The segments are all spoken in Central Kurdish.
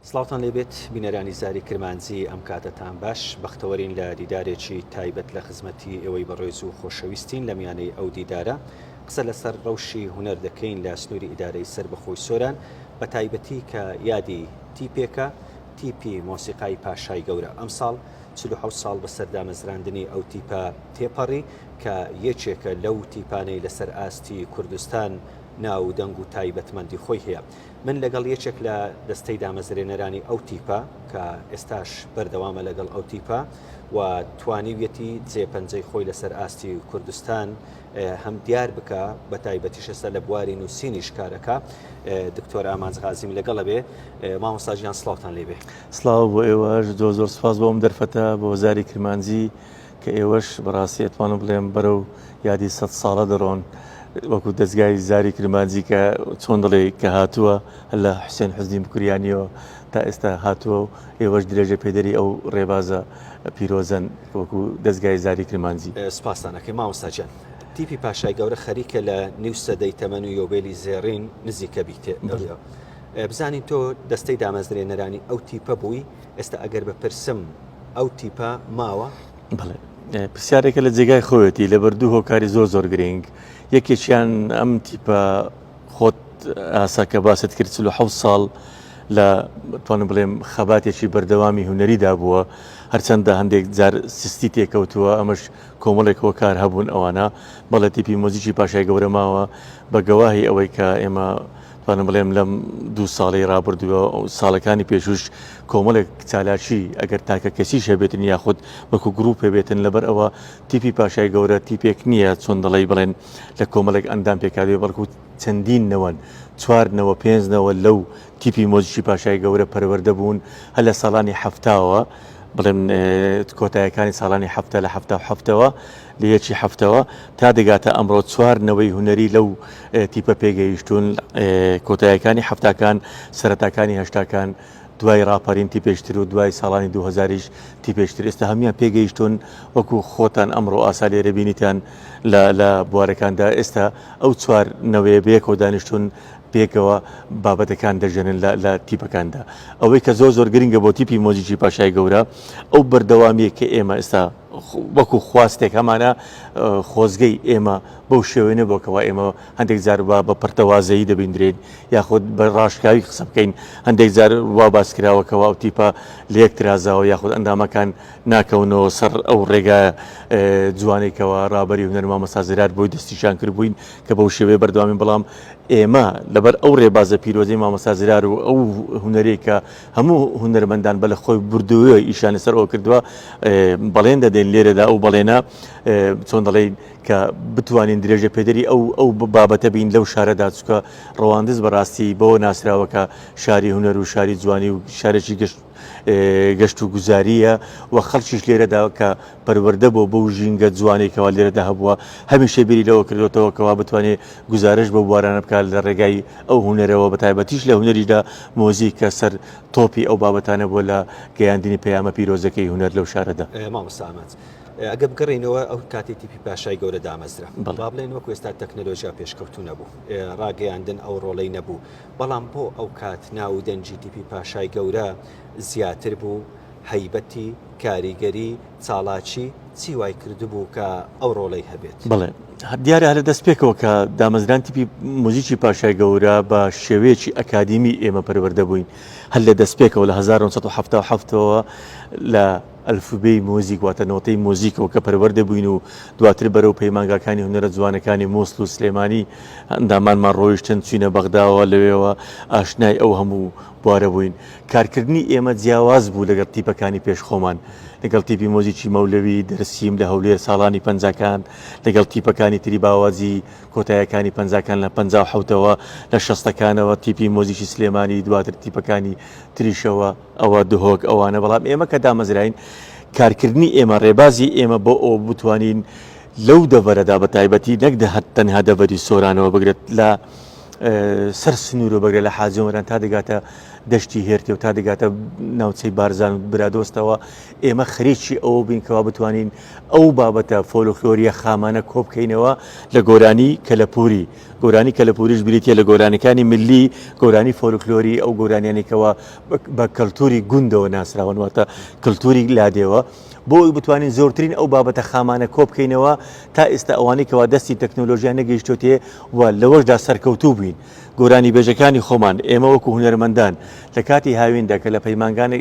سڵاوتان لێبێت بینەرانی زاری کرمانجی ئەم کاتەتان باش بەختەوەرین لە دیدارێکی تایبەت لە خزمەتی ئێوەی بەڕێز و خۆشەویستین لە میانەی ئەو دیدارە قسە لەسەر ڕەوشی هونەر دەکەین لە سنووری ئیدارەی سەر بەخۆی سۆران بە تایبەتی کە یادی تیپێکە تیپی مۆسیقای پاشای گەورە ئەمساڵ چلو حەوت ساڵ بەسەر دامەزراندنی ئەو تیپە تێپەڕی کە یەکێکە لەو تیپانەی لەسەر ئاستی کوردستان ناو و دەنگ و تایبەتمەندی خۆی هەیە من لەگەڵ یەکێک لە دەستەی دامەزرێنەرانی ئەو تیپە کە ئێستاش بەردەوامە لەگەڵ ئەو تیپە و توانیویەتی جێ پەنجەی خۆی لەسەر ئاستی کوردستان هەم دیار بکە بە تایبەتیشەسە لە بواری نووسینیش کارەکە دکتۆر ئامانج غازیم لەگەڵە بێ مامۆساژیان سلااوان لێبێ سلااو بۆ ئێوەش زۆر زۆر سپاس بۆم دەرفەتە بۆ زاری کرمانجی کە ئێوەش بەڕاستی ئەتوانم بڵێم بەرەو یادی سەد ساڵە دەڕۆن وەکو دەزگای زاری کرمانجی کە چۆن دەڵێ کە هاتووە لە حوسێن حوزنی بکوریانیەوە تا ئێستا هاتووە و ئێوەش درێژە پێدەری ئەو ڕێبازە پیرۆزەن وەکو دەزگای زاری کرمانجی. سپاستان ئەکەین مامۆستا گیان. تیپی پاشای گەورە خەریکە لە نیو سەدەی تەمەن و یۆبێلی زێڕین نزیکە بیتێ بزانین تۆ دەستەی دامەزرێنەرانی ئەو تیپە بووی؟ ئێستا ئەگەر بپرسم ئەو تیپە ماوە؟ بەڵێ پرسیارێکە لە جێگای خۆیەتی لەبەر دوو هۆکاری زۆر زۆر گرنگ یەکێکیان ئەم تیپە خۆت ئاسا کە باست کرد چلو حە ساڵ لە توانم بڵێم خەباتێکی بەردەوامی هوەریدا بووە هەرچەندە هەندێک جار سستی تێکەوتووە ئەمەش کۆمەڵێک هۆکار هەبوون ئەوانە بەڵێ تیپی مۆزیکی پاشای گەورەماوە بە گەواهی ئەوەی کە ئێمە توانم بڵێم لەم دوو ساڵی رابردووە ساڵەکانی پێشوش کۆمەڵێک چالاکی ئەگەر تاکە کەسیش هەبێتن یاخود وەکو گروپ هەبێتن لەبەر ئەوە تیپی پاشای گەورە تیپێک نییە چۆن دەڵی بڵێن لە کۆمەڵێک ئەندام پێکاوێ بەڵکو چەندین نەوەن چواردنەوە پێنجنەوە لەو تیپی مۆزیکی پاشای گەورە پەروەەردە بوون هە لە ساڵانی هەفتاوە بڵێن کۆتایەکانی ساڵانی هەفتە لە هەفتا هەفتەوە لە یەکی حەفتەوە تا دەگاتە ئەمڕۆ چوار نەوەی هونەری لەو تیپە پێگەیشتون کۆتایەکانی حفتاکان سەرتاکانی هەشتاکان دوای راپەرین تی پێشتر و دوای ساڵانی 2000یش تی پێشتر ئێستا هەموان پێگەیشتون وەکو خۆتان ئەمڕۆ ئاسا لێرە بینیتان لە بوارەکاندا ئێستا ئەو چوار نەوەیە بەیەکەوە دانیشتون پێکەوە بابەتەکان دەژێنن لە تیپەکاندا ئەوەی کە زۆر زۆر گرنگە بۆ تیپی مۆزیکی پاشای گەورە ئەو بەردەوامیە کە ئێمە ئێستا وەکو خواستێک هەمانە خۆزگەی ئێمە بەو شێوەی نەبووە کەوا ئێمە هەندێک جار وا بە پەرتەوازەیی دەبیندرێن یاخود بە ڕاشکاوی قسە بکەین هەندێک جار وا باس کراوە کەوا ئەو تیپە لە یەک ترازاوە یاخود ئەندامەکان ناکەونەوە سەر ئەو ڕێگا جوانەی کەوا ڕابەری هونەر مامۆستا زرار بۆی دەستیشان کردبووین کە بەو شێوەیە بەردەوامین بەڵام ئێمە لەبەر ئەو ڕێبازە پیرۆزەی مامۆستا زرار و ئەو هونەرەی کە هەموو هونەرمەندان بە لە خۆی بردووە ئیشانی سەر ئەوە کردووە بەڵێن دەدەین لێرەدا ئەو بەڵێنە چۆن دەڵێین کە بتوانین درێژە پێدەری ئەو ئەو بابەتە بین لەو شارەدا چکە ڕەواندز بەڕاستی بەوە ناسراوەکە شاری هونەر و شاری جوانی و شارێکی گەشت گەشت و گوزاریە و خەڵکیش لێرەدا کە پەروەردە بۆ بەو ژینگە جوانەی کەوا لێرەدا هەبووە، هەمیشە بیری لەوە کردۆتەوە کەوا بتوانێ گوزارش بەو بوارانە بکات لە ڕێگای ئەو هونەرەوە بە تایبەتیش لە هونەریشدا مۆزیک کە سەر تۆپی ئەو بابەتانە بووە لە گەیاندنی پەیامە پیرۆزەکەی هونەر لەو شارەدا. مامۆستا ئامانج ئەگەر بگەڕێینەوە ئەو کاتەی تیپی پاشای گەورە دامەزرا با بڵێن وەکو ئێستا تەکنەلۆژیا پێشکەوتوو نەبوو ڕاگەیاندن ئەو ڕۆڵەی نەبوو بەڵام بۆ ئەو کات ناو و دەنگی تیپی پاشای گەورە زیاتر بوو هەیبەتی، کاریگەری، چاڵاکی، چی وای کردبوو کە ئەو ڕۆڵەی هەبێت؟ بەڵێ. دیارە هەر لە دەست پێکەوە کە دامەزران تیپی موزیکی پاشای گەورە بە شێوەیەکی ئەکادیمی ئێمە پەروەردە بووین. هەر لە دەست پێکەوە لە هەزار و نۆ سەد و حەفتا و حەفت ەوە لە ئەلفوبێی موزیک واتە نۆتەی موزیکەوە کە پەروەردە بووین و دواتر بەرەو پەیمانگاکانی هونەرە جوانەکانی موسڵ و سلێمانی ئەندامانمان ڕۆیشتن چووینە بەغداوە لەوێوە ئاشنای ئەو هەموو بوارە بووین، کارکردنی ئێمە جیاواز بوو لەگەڵ تیپەکانی پێش خۆمان، لەگەڵ تیپی مۆزیکی مەولەوی دەرسیم لە هەولێر ساڵانی پەنجاکان، لەگەڵ تیپەکانی تری باواجی کۆتایەکانی پەنجاکان لە پەنجا و حەوتەوە، لە شەستەکانەوە تیپی مۆزیکی سلێمانی دواتر تیپەکانی تریشەوە، ئەوە دهۆک ئەوانە بەڵام ئێمە کە دامەزراین کارکردنی ئێمە ڕێبازی ئێمە بۆ ئەوە بوو بتوانین لەو دەڤەرەدا بەتایبەتی نەک تەنها دەڤەری سۆرانەوە بگرە لە سەر سنوورە بەگرە لە حاجی ئۆمەران تا دەگاتە دەشتی هێرکێ و تا دەگاتە ناوچەی بارزان و برادۆستەوە ئێمە خەریکی ئەوە بین کەوا بتوانین ئەو بابەتە فۆلۆخلۆریە خامانە کۆبکەینەوە لە گۆرانی کەلەپوری گۆرانی کەلەپوریش بریتە لە گۆرانەکانی ملی گۆرانی فۆلکلۆری ئەو گۆرانیانێکەوە بە کەلتوری گوندەوە ناسراونواتە کللتوری لادێوە بۆ ئەوەی بتوانین زۆرترین ئەو بابەتە خامانە کۆبکەینەوە تا ئێستا ئەوانەی کەوا دەستی تەکنۆلۆژیا نەگەیشتۆتێ و لەوەشدا سەرکەوتوو بووین گۆرانی بێژەکانی خۆمان ئێمە وەکو هونەرمەندان لە کاتی هاویندا کە لە پەیمانگانی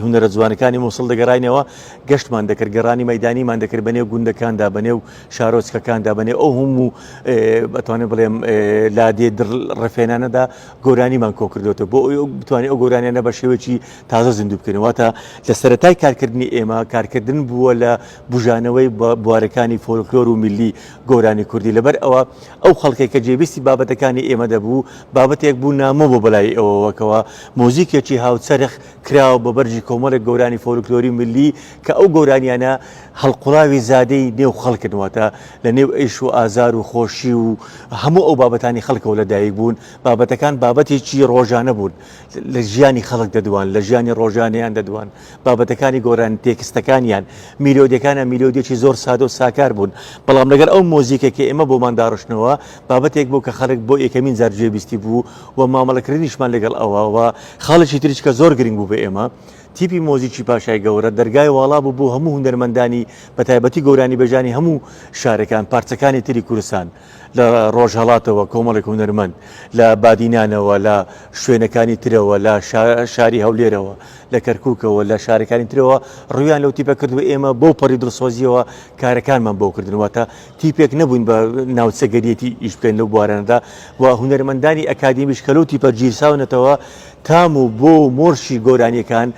هونەرە جوانەکانی موسڵ دەگەڕاینەوە گەشتمان دەکرد گەڕانی مەدانیمان دەکرد بەنێو گوندەکاندا بەنێو شارۆچکەکاندا بەنێو ئەو هەموو بەتوانێت بڵێم لادێ دڕ ڕفێنانەدا گۆرانیمان کۆکردوێتە بۆ ئەو بتوانێت ئەو گۆرانیانە بە شێوەیەکی تازە زیندوو بکەین واتە لە سەرەتای کارکردنی ئێمە کارکردن بووە لە بژانەوەی بوارەکانی فۆلکلۆر و میلی گۆرانی کوردی لەبەر ئەوە ئەو خەڵکێک کە جێبیستی بابەتەکانی ئێمە دەبوو بابەتێک بوو نامۆ بۆ بەلای ئەوەوەکەوە مۆزیکێکی هاوچەرخ کراوە بە بەرجی کۆمەڵێک گۆرانی فۆلکلۆری میلی کە ئەو گۆرانیانە هەڵقڵاوی زادەی نێو خەڵکردنواتە لە نێو ئەیش و ئازار و خۆشی و هەموو ئەو بابەتانی خەڵکەوە لەدایک بوون بابەتەکان بابەتێکی ڕۆژانە بوون لە ژیانی خەڵک دەدوان، لە ژیانی ڕۆژانەیان دەدوان، بابەتەکانی گۆرانی، تێکستەکانیان، میلۆدیەکانیان میلۆدیەکی زۆر سادە و ساکار بوون، بەڵام لەگەڵ ئەو مۆزیکە کە ئێمە بۆمان داڕشتنەوە، بابەتێک بوو کە خەڵک بۆ یەکەمین جار گوێ بیستی بوو و مامەڵەکردنیشمان لەگەڵ ئەوە و خاڵێکی تریش کە زۆر گرنگ بوو بۆ ئێمە تیپی مۆزیکی پاشای گەورە دەرگای واڵا بوو بۆ هەموو هونەرمەندانی بە تایبەتی گۆرانیبێژانی هەموو شارەکان، پارچەکانی تری کوردستان. لە ڕۆژهەڵاتەوە کۆمەڵێک هونەرمەند، لە بادینانەوە، لە شوێنەکانی ترەوە، لە شاری هەولێرەوە، لە کەرکووکەوە، لە شارەکانی ترەوە ڕوویان لەو تیپە کرد و ئێمە بەو پەڕی دڵسۆزییەوە کارەکانمان بۆ کردن. واتە تیپێک نەبووین بە ناوچەگەریەتی ئیش بکەین لەو بوارانەدا و هونەرمەندانی ئەکادیمیش کە لەو تیپە گیرساونەتەوە تام و بۆ و مۆرکی گۆرانییەکان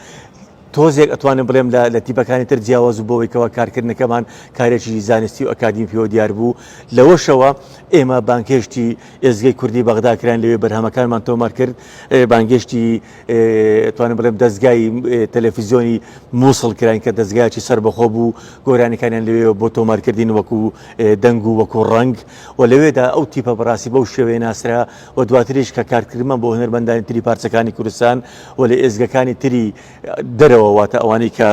تۆزێک ئەتوانم بڵێم لە لە تیپەکانی تر جیاواز و بەوەی کەوا کارکردنەکەمان کارێکی زانستی و ئەکادیمی پێوە دیار بوو لەوەشەوە ئێمە بانگهێشتی ئێزگەی کوردی بەغدا کراین لەوێ بەرهەمەکانمان تۆمار کرد بانگێشتی ئەتوانم بڵێم دەزگای تەلەفیزیۆنی مووسڵ کراین کە دەزگایکی سەربەخۆ بوو گۆرانیکانیان لەوێ بۆ تۆمارکردین وەکو دەنگ و وەکو ڕەنگ و لەوێدا ئەو تیپە بەڕاستی بەو شێوەیە ناسرا و دواتریش کە کارکردمە بۆ هونەرمەندانی تری پارچەکانی کوردستان و لە ئێزگەکانی تری دەرەوە واتە ئەوانەی کە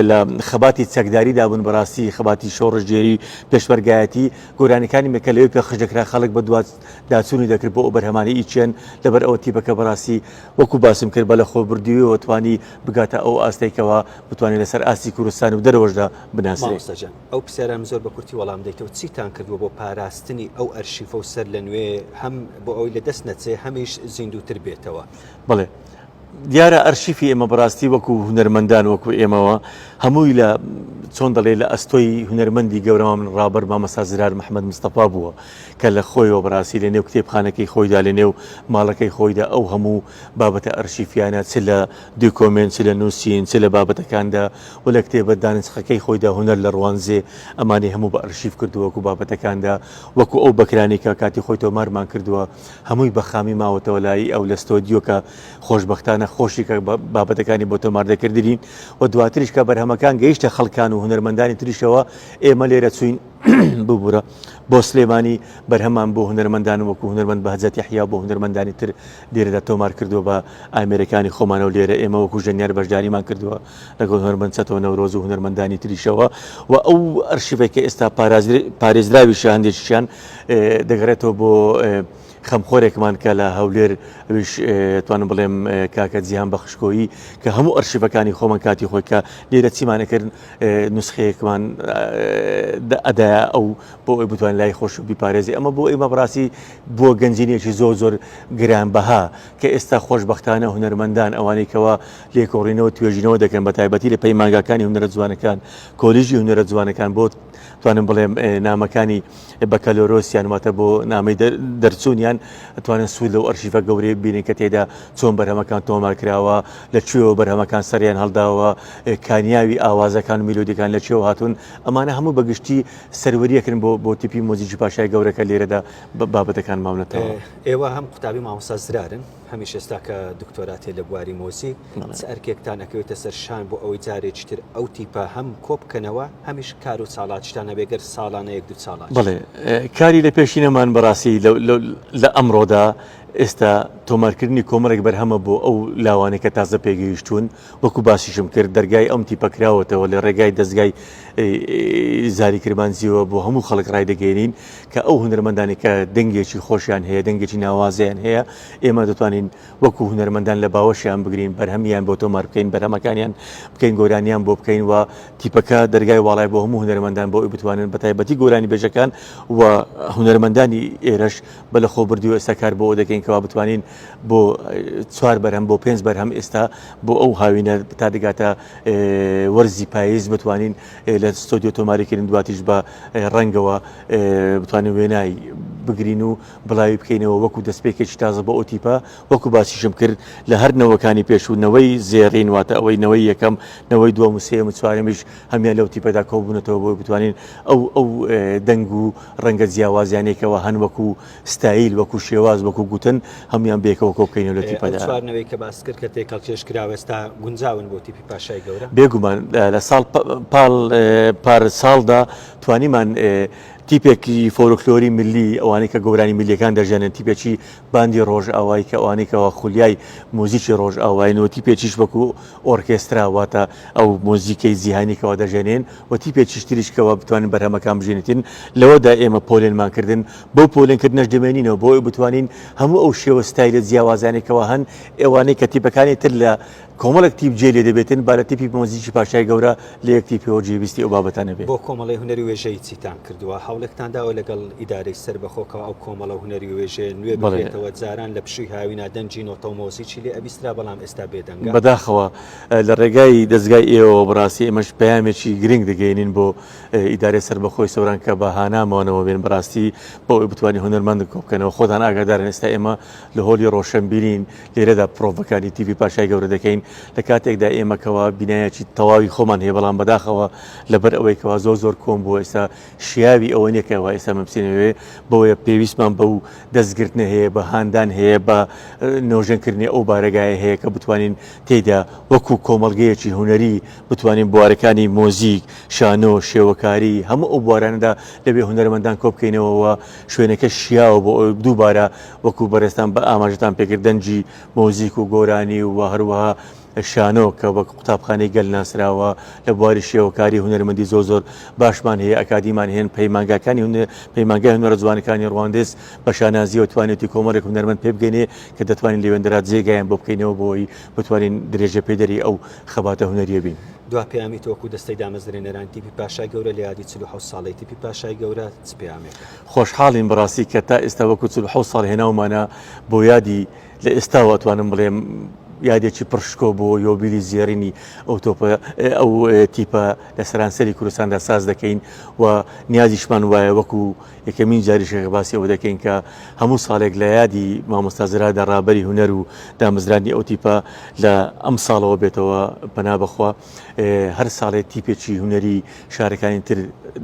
لە خەباتی چەکداری دابوون بەڕاستی خەباتی شۆڕشگێری پێشمەرگایەتی گۆرانیەکانی مێکە لەوێ پێخش دەکرا خەڵک بە دوات داچوونی دەکرد بۆ ئەو بەرهەمانی ئیچێن لەبەر ئەوە تیپەکە بەڕاستی وەکو باسم کرد بە لە خۆ بردوویەوە توانی بگاتە ئەو ئاستێکەوە بتوانێت لەسەر ئاستی کوردستان و دەرەوەشدا بناسرێت. ئەو پرسیارەم زۆر بە کورتی وەڵام دەیتەوە، چیتان کردووە بۆ پاراستنی ئەو ئەرشیفە و سەرلەنوێ هەم بۆ ئەوەی لە دەست نەچێ هەمیش زیندووتر بێتەوە؟ بەڵێ. دیارە ئەرشیفی ئێمە بە ڕاستی وەکوو هونەرمەندان وەکوو ئێمەوە هەمووی لە چۆن دەڵێ لە ئەستۆی هونەرمەندی گەورەمان من ڕابەر مامەستا زرار محمەد مستەفا بووە کە لە خۆیەوە بە ڕاستی لە نێو کتێبخانەکەی خۆیدا لە نێو ماڵەکەی خۆیدا ئەو هەموو بابەتە ئەرشیفیانە چ لە دوکۆمێنت چ لە نووسین چ لە بابەتەکاندا و لە کتێبە دانسقەکەی خۆیدا هونەر لە ڕوانزێ ئەمانەی هەموو بە ئەرشیف کردووە و بابەتەکاندا وەکوو ئەو بەکرانەی کە کاتی خۆی تۆمارمان کردووە هەمووی بە خامی ماوەتەوە لای ئەو لە ستۆدیۆ کە خۆشبەختانە خۆشی کە بابەتەکانی بۆ تۆمار دەکردرین و دواتریش کە بەرهەمەکان گەیشتە خەڵکان و هونەرمەندانی تریشەوە ئێمە لێرە چووین ببوورە بۆ سلێمانی بەرهەمان بۆ هونەرمەندان وەکو هونەرمەند بەهجەتی حیا بۆ هونەرمەندانی تر لێرەدا تۆمار کردووە بە ئامێرەکانی خۆمانەوە لێرە ئێمە وەکو ژەنیار بەشداریمان کردووە لەگەڵ هونەرمەند چەتۆ نەورۆز و هونەرمەندانی تریشەوە و ئەو ئەرشیفەی کە ئێستا پارێزراویشە هەندێکیان دەگەڕێتەوە بۆ خەمخۆرێکمان کە لە هەولێر ئەوش توانم بڵێم کاکە جیهان بەخشکۆیی کە هەموو ئەرشیفەکانی خۆمان کاتی خۆی کە لێرە چیمانەکردن نسخەیەکمان ئەدای ئەو بۆ ئەوی بتوان لای خۆش و بیپارێزی ئەمە بۆ ئێمە بڕاستی بۆ گەنجینێکی زۆر زۆر گران بەها کە ئێستا خۆشببختانە هونەرمەندان ئەوانەی کەەوە لێکۆڵینەوە توێژینەوە دەکەن بە تایبەتی لە پەیمانگاکانی هونەرە جوانەکان کۆلیژی هونەرە جوانەکان بۆ توانم بڵێم نامەکانی بەکەلۆرۆسیان واتە بۆ نامی دەرچوونیان توانن سوود لەو ئەرشیفە گەورەی بینن کە تێدا چۆن بەرهەمەکان تۆمار کراوە لە کوێوە بەرهەمەکان سەریان هەڵداوە کانیاوی ئاوازەکان و میلۆدیەکان لە کوێوە هاتوون ئەمانە هەموو بەگشتی سەروەریەکن بۆ بۆ تیپی مۆزیکی پاشای گەورەکە لێرەدا بابەتەکان ماونەتەوە ئێوە هەم قوتابی مامۆستا زرارن هەمیش ئێستا کە دکتۆراتێ لە بواری مۆزیک چ ئەرکێکتان ئەکەوێتە سەر شان بۆ ئەوەی جارێکی تر ئەو تیپە هەم کۆبکەنەوە هەمیش کار و چاڵاکیتان هەبێ گەر ساڵانە یەک دوو چاڵاکی؟ بەڵێ کاری لە پێشینەمان بەڕاستی لە ئەمڕۆدا ئێستا تۆمارکردنی کۆمەڵێک بەرهەمە بۆ ئەو لاوانەی کە تازە پێگەیشتوون وەکو باسیشم کرد دەرگای ئەم تیپە کراوەتەوە لە رێگای دەزگای زاری کرمانجیەوە بۆ هەموو خەڵک رایدەگەێنین کە ئەو هونەرمەندانی کە دەنگێکی خۆشیان هەیە دەنگێکی ناوازیان هەیە ئێمە دەتوانین وەکو هونەرمەندان لە باوەشیان بگرین بەرهەمیان بۆ تۆمار بکەین بەرهەمەکانیان بکەین گۆرانیان بۆ بکەین و تیپەکە دەرگای واڵای بۆ هەموو هونەرمەندان بۆ ئەوی بتوانن بە تایبەتی گۆرانی بێژەکان و هونەرمەندانی ئێرەش بە لە خۆ بردی و ئێستا کار بۆ دەکەین کەوا بتوانین بۆ چوار بەرهەم بۆ پێنج بەرهەم ئێستا بۆ ئەو هاوینە تا دەگاتە وەرزی پاییز بتوانین لە ستۆدیۆ تۆماریکردن دواتیش بە ڕەنگەوە بتوانین وێنای بگرین و بڵاوی بکەینەوە وەکو دەستپێکێکی تازە بۆ ئۆتیپا وەکو باسیشم کرد لە هەر نەوەکانی پێشوو نەوەی زێڕین واتە ئەوەی نەوەی یەکەم نەوەی دووە مسێم و چوارمیش هەمیان لەو تیپەدا کۆبوونەتەوە بۆی بتوانین ئەو ئەو دەنگ و ڕەنگە جیاوازیانێکەوە هەن وەکو ستایل، وەکو شێواز، وەکو گوتن، هەموویان بەیەکەوە کۆبکەینەوە لە تیپەدا. ئەو چوار نەوەی کە باست کرد کە تێکەڵکێش کراوە ئێستا گونجاون بۆ تیپی پاشای گەورە؟ بێگومان لە ساڵ پاڵ پار ساڵدا توانیمان تیپێکی فۆلکلۆری ملی ئەوانەی کە گۆرانی ملیەکان دەژەنن تیپێکی باندی ڕۆژئاوای کە ئەوانەی کەەوە خولیای موزیکی ڕۆژئاواین و تیپێکیش وەکو ئۆرکێسترا واتە ئەو مۆزیکەی جیهانیکەوە دەژێنێن و تیپێکیش تریشکەوە بتوانین بەرهەمەکان بژێنێتین لەوەدا ئێمە پۆلێنمان کردن بەو پۆلێنکردنەش دەمێنینەوە بۆ ئەوەی بتوانین هەموو ئەو شێوە ستایلە جیاوازانەی کەوا هەن، ئەوانەی کە تیپەکانی تر لە کۆمەڵێک تیپ جێ لێ دەبێتن، با لە تیپی مۆزیکی پاشای گەورە لە یەک تیپەوە جێویستی ئەو بابەتانە بێ. بۆ کۆمەڵەی هونەر و وێژەیی چیتان کردووە؟ هەوڵێکتان داوە لەگەڵ ئیدارەی سەربەخۆ کەوا ئەو کۆمەڵە هونەری و وێژەیە نوێ بکرێتەوە؟ جاران لە پشووی هاوینا دەنگی نۆتە و مۆزیکی لێ ئەبیسترا بەڵام ئێستا بێ دەنگە. بەداخەوە لە ڕێگای دەزگای ئێوەوە بەڕاستی ئێمەش پەیامێکی گرنگ دەگەیەنین بۆ ئیدارەی سەربەخۆی سۆران کە بە هانا مۆنەوە بێن بەراستی بۆ ئەوەی بتوانین هونەرمەند کۆبکەنەوە خۆتان ئاگادارن ئێستا ئێمە لە هۆلی ڕۆشەنبیرین لێرەدا پرۆڤەکانی تیڤی پاشای گەورە دەکەین لە کاتێکدا ئێمە کەوا بینایەکی تەواوی خۆمان هەیە بەڵام بەداخەوە لەبەر ئەوەی کەوا زۆر زۆر کۆم بووە ئێستا شیاوی ئەوە نیە کەوا ئێستا مەبسینەوێ بۆیە پێویستمان بە و دەستگرتنە هەیە بە هاندان هەیە بە نۆژەنکردنی ئەو بارەگایە هەیە کە بتوانین تێدا وەکو کۆمەلگەیەکی هونەری بتوانین بوارەکانی مۆزیک، شانۆ، شێوەکاری، هەموو ئەو بوارانەدا لەوێ هونەرمەندان کۆبکەینەوە و شوێنەکە شیاوە بۆ ئەوەی دووبارە وەکو بەڕێزتان بە ئاماژەتان پێکرد دەنگی مۆزیک و گۆرانی و هەروەها شانۆ کە وەک قوتابخانەی گەل ناسراوە لە بواری شێوەکاری هونەرمەندی زۆر زۆر باشمان هەیە ئەکادیمان هەیە پەیمانگاکانی هون پەیمانگای هونەرە جوانەکانی ڕواندز بە شانازیەوە توانێتی کۆمەڵێک هونەرمەند پێبگەنێ کە دەتوانین لەوێندرا جێگایان بۆ بکەینەوە بۆی بتوانین درێژەپێدەری ئەو خەباتە هونەریە بین. دوا پەیامی تۆک و دەستەی دامەزرێنەران تیپی پاشای گەورە لە یادی چل و حەوت ساڵەی تیپی پاشای گەورە چ پەیامێکە؟ خۆشحاڵین بەڕاستی کە تا ئێستا وەکو چل و حەوت ساڵ هێناومانە بۆ یادی لە ئێستاوە ئەتوانم بڵێم یادێکی پڕ شکۆ بۆ یۆبیلی زێڕینی ئەو تۆپە ئەو تیپە لە سەرانسەری کوردستاندا ساز دەکەین و نیازیشمان وایە وەکو یەکەمین جاریشە کە باسی ئەوە دەکەین کە هەموو ساڵێک لە یادی مامۆستا زرادا ڕابەری هونەر و دامەزراندنی ئەو تیپە لە ئەم ساڵەوە بێتەوە پەنا بەخوا هەر ساڵێ تیپێکی هونەری شارەکانی تر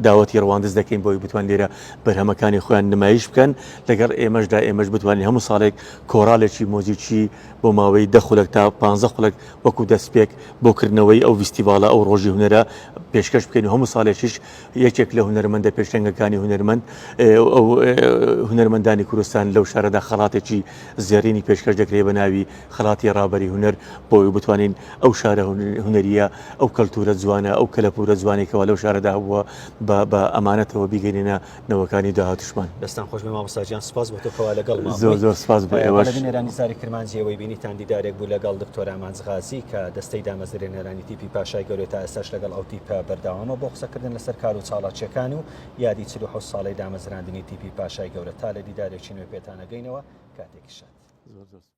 داوەتی ڕواندز دەکەین بۆی بتوان لێرە بەرهەمەکانی خۆیان نمایش بکەن لەگەڵ ئێمەشدا ئێمەش بتوانین هەموو ساڵێک کۆراڵێکی مۆزیکی بۆ ماوەی دە خولک تا پ خولک وەکو دەستپێک بۆ کردنەوەی ئەو ویستیڤالە ئەو ڕۆژی هونەرە پێشکەش بکەین و هەموو ساڵێکیش یەکێک لە هونەرمەندە پێشەنگەکانی هونەرمەند ئەو هونەرمەندانی کوردستان لەو شارەدا خەڵاتێکی زێڕینی پێشکەش دەکرێت بە ناوی خەڵاتی ڕابەری هونەر بۆی بتوانین ئەو شارە هونەریە ئەو کەلتورە جوانە ئەو کەلەپورە جوانێکەوە لەو شارەدا بووە بە ئەمانەتەوە بیگەێنە نەوەکانی داهاتوشمان. دەستان خۆش بێ مامۆستا گیان سپاس بۆ تۆ کەوا لەگەڵمان بووی. زۆر زۆر سپاس بۆ ئێوەش. بەڵێ بینەرانی زاری کرمانجی ئەوەی بینیتان دیدارێک بوو لەگەڵ دکتۆر ئامانج غازی کە دەستەی دامەزرێنەرانی تیپی پاشای گەورەیە تا ئێستاش لەگەڵ ئەو تیپە بەردەوامە بۆ قسەکردن لەسەر کار و چاڵاکییەکان و یادی چل و حەوت ساڵەی دامەزراندنی تیپی پاشای گەورە تا لە دیدارێکی نوێ پێتان ئەگەینەوە کاتێکی شاد.